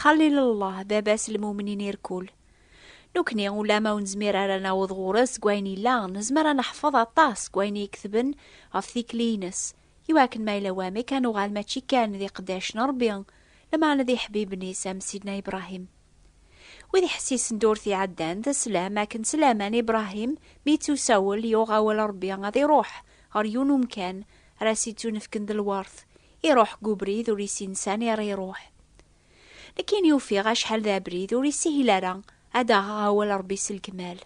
Xalil Allah, baba-s n lmumnin irkul. Nukni, ulama ur nezmir ara ad naweḍ ɣur-s deg wayen yella, nezmer ad neḥfeḍ aṭas deg wayen i iketben ɣef tikli-ines, i wakken ma yella wamek ad nuɣal mačči kan d iqeddac n Rebbi, lameɛna d iḥbiben-is am Sidna Ibrahim. Wid iḥessisen-d ur t-iɛeddan, d slam akken s laman Ibrahim mi yettusawel yuɣ awal Rebbi ad iruḥ ɣer yiwen umkan ara s-ittunefken d lwert Iruḥ deg ubrid ur yessin sani ara iruḥ. Nekkini ufiɣ acḥal d abrid ur yessihil ara ad aɣeɣ awal Rebbi s lekmal.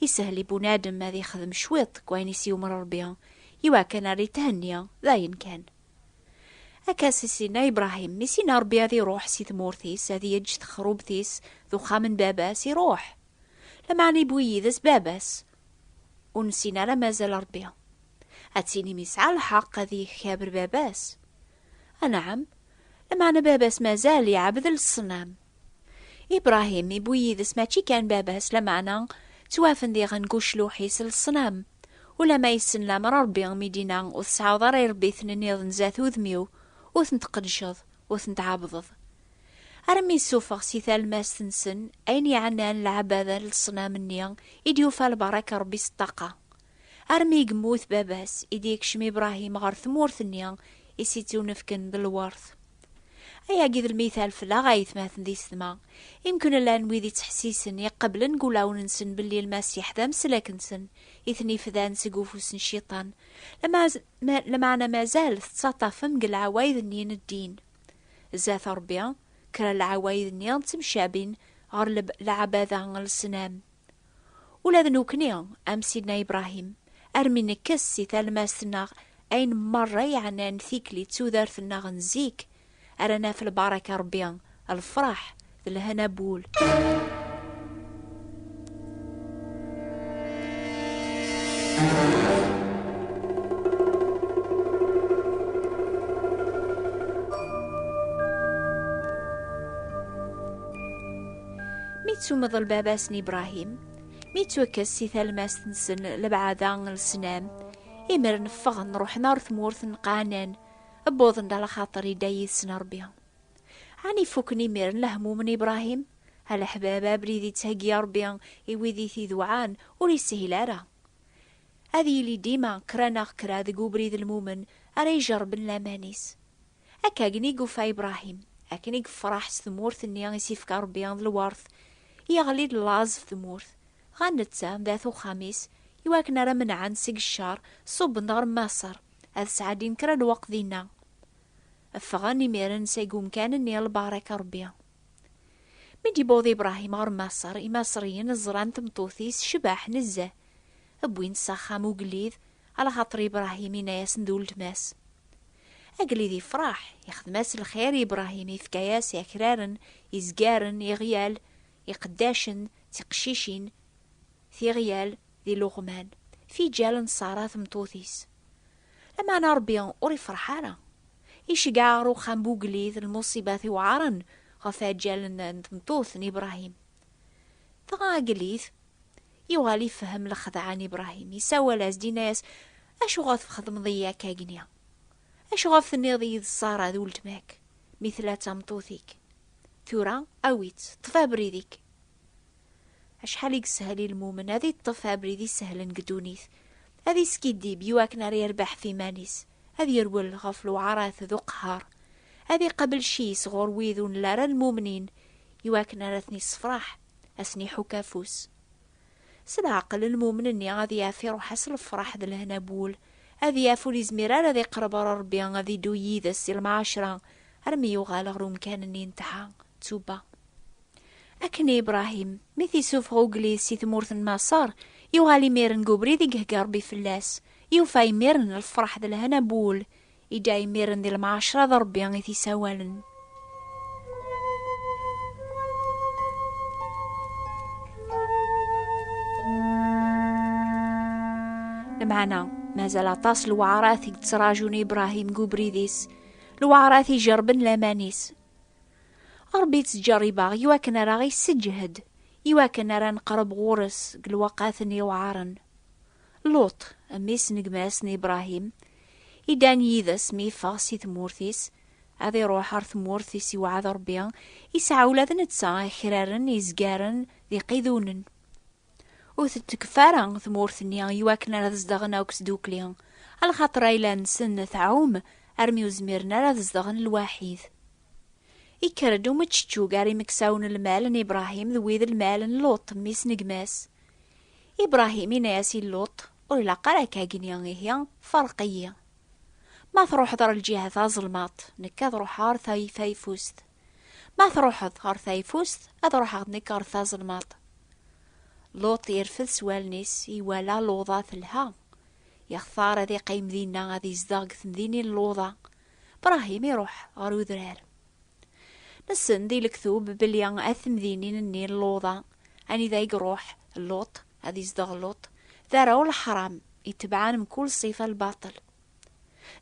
Isehel i bunadem ad ixdem cwiṭ deg wayen i s-yumer Rebbi iwakken ar ithenni, d ayen kan. Akka s Sidna Ibrahim mi s-yenna Rebbi ad iruḥ si tmurt-is ad yeǧǧ texrubt-is d uxxam n baba-s iruḥ. Lameɛna iwwi yid-s baba-s, ur nessin ara mazal Ṛebbi. Ad tinim yesɛa lḥeqq ad yekabr baba-s. Anɛam, lameɛna baba-s mazal iɛebbed leṣnam. Ibṛahim iwwi yid-s mačči kan baba-s, lameɛna ttwafen diɣen deg ucluḥ-is leṣnam. Ulamma yessen lameṛ Ṛebbi mi d-inna ur tesɛiḍ ara iṛebbiten nniḍen zdat udem-iw, ur ten-tqeddceḍ, ur ten-tɛebbdeḍ. armi yessufeɣ si talmast-nsen ayen yeɛnan leɛbada n leṣnam-nni i d-yufa lbaṛaka n Ṛebbi s ṭṭaqa. Armi i yemmut baba-s i d-yekcem Ibṛahim ɣer tmurt-nni i s-ittunefken d lweṛt. Ayagi d lmital fell-aɣ ayetmaten d isetma, i mkun llan wid ittḥessisen, iqebblen deg wulawen-nsen belli Lmasiḥ d ameslak-nsen i ten-ifdan seg ufus n Cciṭan, lameɛna mazal tettaṭṭafem deg leɛwayed-nni n ddin. Zdat Ṛebbi, kra n lɛawayd-nni ttemcabin ɣer lɛabada n lesnam. Ula d nekkni, am Sidna Ibrahim, armi nekkes si talmast-nneɣ ayen merra yeɛnan tikli d tudert-nneɣ n zik, ara naf lbaraka n Ṛebbi, lfeṛḥ d lehna n wul. Mi ttummeḍ lbaba-s n Ibrahim, mi ttwakkes si talmast-nsen lebɛada n lesnam, imer neffeɣ nruḥen ar tmurt n Qanan, wwḍen-d ala xaṭer idda yid-sen Rebbi. Ɛni fukken imiren lehmum n Ibrahim? A leḥbab, abrid i d-ttheggi Ṛebbi i wid i t-idewɛan ur ishil ara. Ad yili dima kra neɣ kra deg ubrid lmumen ara ijerrben laman-is. Akka gen i yufa Ibrahim, akken i yefraḥ s tmurt-nni i s-ifka Ṛebbi d lwert, yeɣli-d laẓ ɣef tmurt, dɣa netta d at uxxam-is, i wakken ara menɛen seg ccer, ṣubben-d ɣer Maṣer, ad sɛeddin kra n lweqt dinna. Ffɣen imiren seg umkan-nni lbaṛak a Ṛebbi. Mi d-yewweḍ Ibṛahim ɣer Maṣer, Imaṣriyen ẓran tmeṭṭut-is tecbeḥ nezzeh, wwin-tt s axxam ugellid, alaxaṭer Ibṛahim yenna-yasen d uletma-s. Agellid yefṛeḥ, ixdem-as lxir i Ibṛahim, ifka-yas akraren, izgaren, iɣyal, iqeddacen, tiqeccicin, tiɣyal d iluɣman, fijal n Ṣara tmeṭṭut-is. Lameɛna Ṛebbi ur ifreḥ ara. Iceggeɛ ɣer uxxam bu ugellid, lmuṣibat iwɛaṛen ɣef ɛeǧǧal n n tmeṭṭut n Ibṛahim. Dɣa agellid yuɣal ifehhem lexdeɛ n Ibṛahim, isawal-as-d, inna-yas, Acuɣef txedmeḍ-iyi akka agni? Acuɣef tenniḍ-iyi-d Ṣara d uletma-k, mi tella d tameṭṭut-ik? Tura, awi-tt, ṭṭef abrid-ik. Acḥal i yeshel i lmumen ad iṭṭef abrid isehlen deg ddunit, ad iskiddib i wakken ara irbeḥ ɣef iman-is, ad yerwel ɣef lewɛarat d uqehher, ad iqabel cci-s ɣur wid ur nla ara lmumnin i wakken ara ten-issefraḥ, ad sen-iḥukk afus. S leɛqel, lmumen-nni ad yaf iruḥ-as lefraḥ d lehna n wul, ad yaf ur izmir ara ad iqerreb ɣer Rebbi, ad iddu yid-s si lemɛacra armi yuɣal ɣer umkan-nni n tḥa, ttuba. Akken i Ibrahim, mi t-isufeɣ ugellid si tmurt n Maṣer, yuɣal imiren deg ubrid i ihegga Rebbi fell-as, yufa imiren lfeṛḥ d lhana n wul, idda imiren di lemɛacṛa d Rebbi i t-isawalen. Lmeɛna, mazal aṭas n lewɛṛat i yettraǧun Ibrahim deg ubrid-is, lewɛṛat ijerrben laman-is. Ṛebbi yettǧerrib-aɣ i wakken ara aɣ-isseǧhed, i wakken ara neqreb ɣur-s deg lweqaten yewɛaṛen. Luṭ, mmi-s n gma-s n Ibṛahim, iddan yid-s mi yeffeɣ si tmurt-is, ad iṛuḥ ɣer tmurt i s-iwɛed Ṛebbi, yesɛa ula d netta akraren izgaren d iqidunen. Ur tettkef ara tmurt-nni i wakken ara zedɣen akk sdukli, alxaṭer ayla-nsen tɛum armi ur zmiren ara ad zedɣen lwaḥid. Ikker-d umeččeččug ar imeksaw n lmal n Ibrahim d wid n lmal n Luṭ, mmi-s n gma-s. Ibrahim inna-as i Luṭ, Ur ilaq ara ad k-agni, ihi ferreq-iyi. Ma truḥeḍ ar lǧiha taẓelmaṭ, nekk ad ruḥeɣ ar tayeffust. Ma truḥeḍ ɣer tayfust, ad ruḥeɣ nekk ɣer tazelmaḍt. Luṭ irfed s wallen-is, iwala Luḍa telha. Yextar ad iqqim dinna ad izdeɣ deg temdinin n Luḍa. Brahim iruḥ ɣer udrar. Nessen di lektub belli at temdinin-nni n Luḍa, anida i iruḥ Luṭ, ad izdeɣ Luṭ, d arraw n leḥram, itebɛen mkul ṣṣifa n lbaṭel.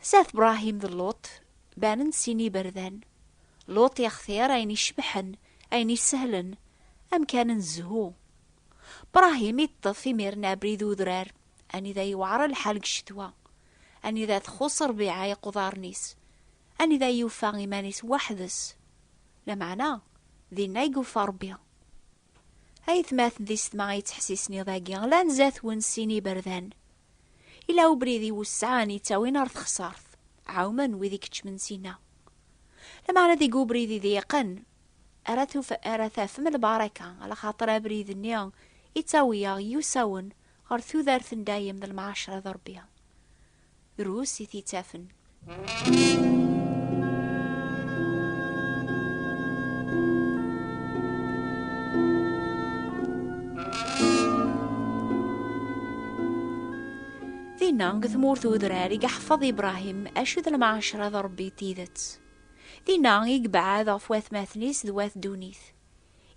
Zdat Bṛahim d Luṭ banen-d sin yiberdan. Luṭ yextir ayen icebḥen, ayen isehlen, amkan n zzhu. Bṛahim iṭṭef imir-nni abrid n udrar, anida yewɛer lḥal deg ccetwa, anida txuṣṣ ṛbiɛa iquḍaren-is, anida yufa iman-is weḥd-s. Lameɛna, dinna i yufa Ṛebbi. Ayetmaten di setma ay yettḥessisen iḍ-agi, lan zdat-wen sin iberdan. Yella ubrid iwesɛen yettawin ɣer texṣart. Ɛawmen wid i ikeččmen sin-a. Lameɛna deg ubrid iḍyiqen ara, ara tafem lbaraka, alaxaṭer abrid-nni yettawi-aɣ yusawen ɣer tudert n dayem d lemɛacra d Rebbi. Rus i t-ittafen. Dinna, deg tmurt udrar, i yeḥfeḍ Ibrahim acu d lmaɛacra d Rebbi tidet. Dinna i yebɛed ɣef watmaten-is d wat ddunit.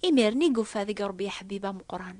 Imir-nni i yufa deg Rebbi aḥbib ameqqran.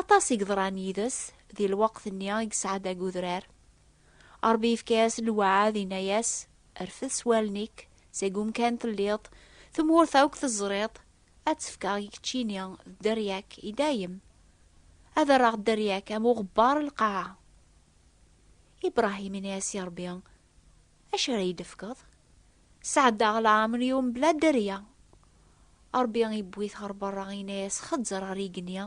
Aṭas i yeḍran yid-s di lweqt-nni i yesɛa deg udrar. Ṛebbi yefka-yas lweɛɛed, inna-yas, Rfed s wallen-ik, seg umkan telliḍ, tmurt akk teẓriḍ, ad tt-fkeɣ i keččini d dderya-k i dayem. Ad rreɣ dderya-k am uɣebbar n lqaɛa. Ibṛahim inna-yas i Ṛebbi, Acu ara yi-d-tefkeḍ? Sɛeddaɣ leɛmer-iw mebla dderya. Ṛebbi iwwi-t ɣer beṛṛa, yenna-yas, Xeẓẓer ɣer yigenni,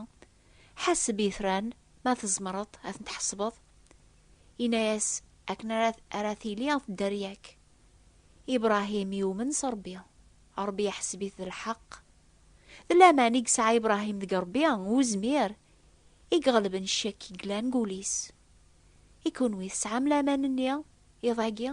ḥaseb itran, ma tzemreḍ ad ten-tḥesbeḍ. Yenna-yas, Akken ara tili dderya-k. Ibṛahim yumen s Ṛebbi, Ṛebbi iḥseb-it d lḥeqq. D laman i yesɛa Ibṛahim deg Ṛebbi, uzmir i iɣelben ccek i yellan deg wul-is. I kenwi, tesɛam laman-nni iḍ-agi?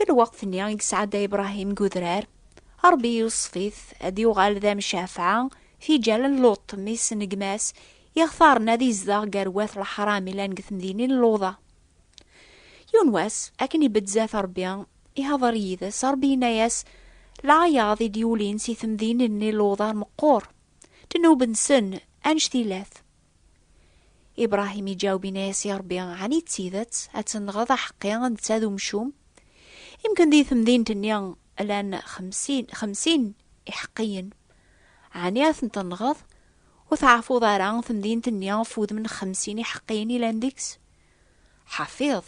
Deg lweqt-nni i yesɛedday Ibrahim deg udrar, Ṛebbi iweṣṣef-it ad d-yuɣal d amcafɛa, tiǧal n Luṭ, mmi-s n gma-s, i ixtaren ad izdeɣ gar wat leḥṛam yellan deg temdinin n Luḍa. Yiwen wass, akken ibedd zdat Ṛebbi, ihdeṛ yid-s, Ṛebbi yenna-yas, Lɛayaḍ i d-yulin si temdinin-nni n Luḍa meqqur, ddnub-nsen anect ila-t. Ibrahim iǧaweb ini-as i Ṛebbi, Ɛni d tidet ad tenɣeḍ aḥeqqi netta d umcum? Imken di temdint-nni llan xemsin, xemsin iḥeqqiyen. Ɛni ad ten-tenɣeḍ? Ur tɛerfuḍ ara temdint-nni ɣef wudem n xemsin iḥeqqiyen yellan deg-s? Ḥafiḍ,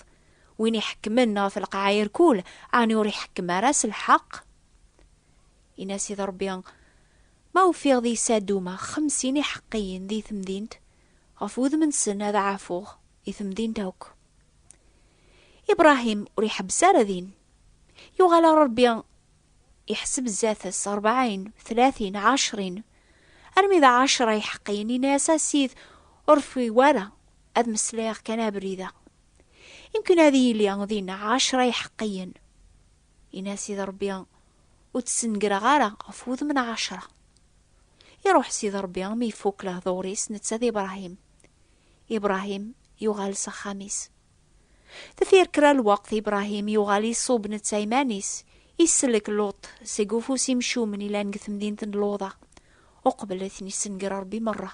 win iḥekkmen ɣef lqaɛa irkul, ɛni ur iḥekkem ara s lḥeqq? Ini-as i Ṛebbi, Ma ufiɣ di Saduma xemsin iḥeqqiyen di temdint, ɣef wudem-nsen ad ɛafuɣ i temdint akk. Ibrahim ur iḥebbes ara din. Yuɣal ɣer Rebbi, iḥseb zdat-s, rebɛin, tlatin, ɛecrin, armi d ɛecra iḥeqqiyen, yenna-yas, A Ssid, ur rfiɣ ara, ad meslayeɣ kan abrid-a. Imken ad yili dinna ɛecra iḥeqqiyen. Yenna a Sidi Ṛebbi, ur d-snegreɣ ara ɣef wudem n Ɛacṛa. Iṛuḥ Sidi Ṛebbi mi ifukk lehduṛ-is netta d Ibṛahim. Ibṛahim yuɣal s axxam-is. Deffir kra lweqt Ibṛahim yuɣal iṣub netta iman-is, isellek Luṭ seg ufus imcumen yellan deg temdint n Luḍa, uqbel ad ten-issenger Ṛebbi meṛṛa.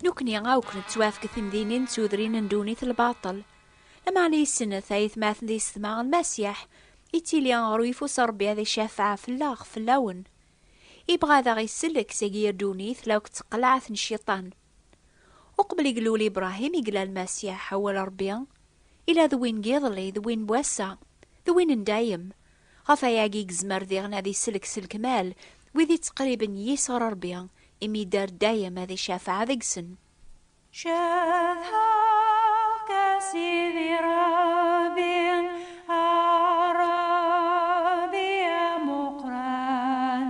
Nekkni akk nettwafk timdinin d tudrin n ddunit lbaṭel. Lameɛna yessen tayetmaten d yessetma n Masiḥ, yettili ɣer uyeffus n Ṛebbi ad icafeɛ fell-aɣ, fell-awen. Ibɣa ad aɣ-isellek seg yir ddunit la akk d taqlaɛt n Cciṭan. Uqbel i ilul Ibṛahim i ilal Masiḥ, awal Ṛebbi, ila d win n yiḍelli, d win n wass-a, d win n dayem. Ɣef wayagi i yezmer diɣen ad isellek s lekmal wid itteqriben yis ɣer Ṛebbi, imi idder dayem ad icafeɛ deg-sen. Cedhaɣ-k a Sidi Ṛebbi, a Ṛebbi amuqran,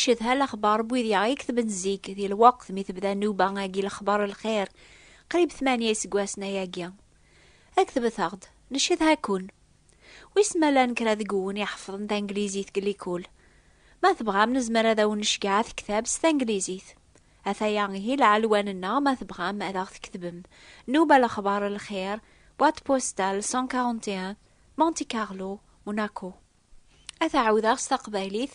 ncedha lexbar n wid yaɣ i ketben zik di lweqt mi tebda nnuba agi lexbar lxir qrib tmanya iseggasen ayagi ad ketbet-aɣ-d ncedha-ken wis ma llan kra deg wun iḥefḍen tanglizit deg likul ma tebɣam nezmer ad awen-necgeɛ atektab s tanglizit Ataya ihi lɛelwan-nneɣ ma tebɣam ad aɣ-tketbem, Nuba Lexbar Lxir, boîte postale 141, Monte Carlo, Monaco. Ad t-ɛawdeɣ s taqbaylit,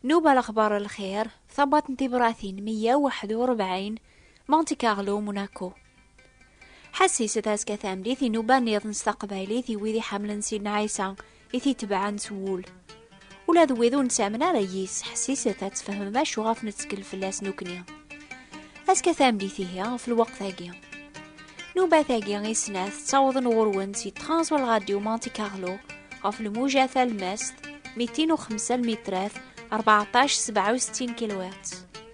Nuba Lexbar Lxir, Tabwaṭ n Tibratin 141, Monte Carlo, Monaco. Ḥessis, Tazeqqa Tameddit, Inuba-nniḍen s taqbaylit i wid iḥemmlen Sidna Ɛisa, i t-itebɛen s wul. Ula d wid ur nettamen ara yis, ḥessiset ad tfehmem acu ɣef nettkel fell-as nukni. Azekka tameddit ihi, ɣef lweqt-agi. Nubat-agi i snat ttawḍen ɣur-wen si Transwal Radio Monte Carlo ɣef lmuja talmast 205 lmitrat 1467 kilowat.